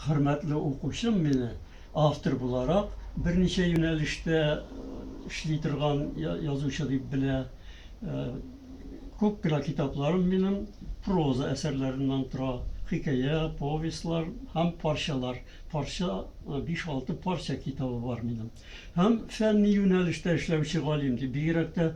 Хөрмәтле укучым, мине автор буларак берничә юнәлештә эшли торган язучы дип белә. Күп кенә китапларым минем проза әсәрләреннән тора. Хикәя, повестьлар һәм парчалар. Парча, биш-алты парча китабы бар минем. Һәм фәнни юнәлештә эшләүче галим, бигрәк тә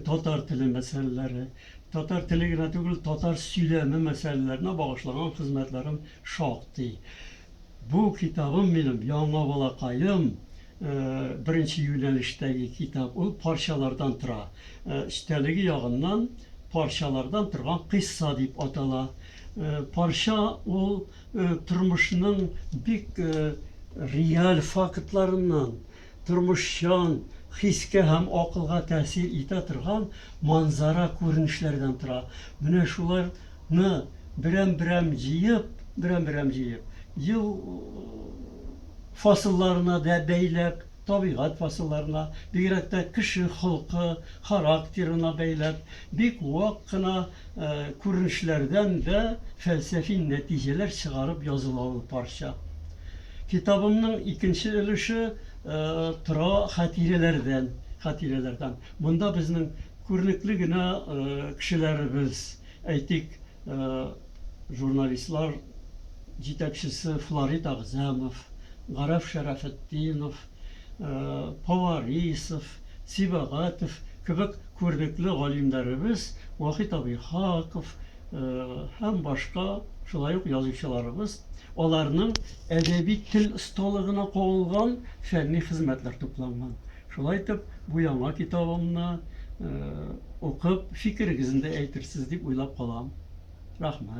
татар теле мәсьәләләре, Татар теле генә түгел, татар сөйләме мәсьәләләренә багышлаган хезмәтләрем шактый. Бу китабым минем яңа балакаем беренче юнәлештәге китап. Ул парчалардан тора. Эчтәлеге ягыннан парчалардан торган кыйсса дип атала. Парча ул тормышның бик реаль фактларыннан, тормышчан, хискә һәм акылга тәэсир итә торган манзара күренешләрдән тора. Менә шулар ны берәм-берәм җыеп, берәм-берәм җыеп, ел фасылларына дә бәйләп, табигать фасылларына, бигрәк тә кеше холкы, характерына бәйләп, бик вак кына күренешләрдән дә фәлсәфи нәтиҗәләр чыгарып языла ул парча. Китабымның икенче өлеше тора хатирәләрдән, хатирәләрдән. Монда безнең күренекле генә кешеләребез, әйтик, журналистлар җитәкчесе Фларит Агзәмов, Гарәф Шәрәфетдинов, Поварисов, Сибәгатев кебек күренекле галимнәребез, Вахит Абыйхаков, һәм башка шулай ук язучыларыбыз аларның әдәби тел осталыгына кагылган фәнни хезмәтләр тупланган шулай итеп бу яңа китабымны укып фикерегезне дә әйтерсез дип уйлап калам рәхмәт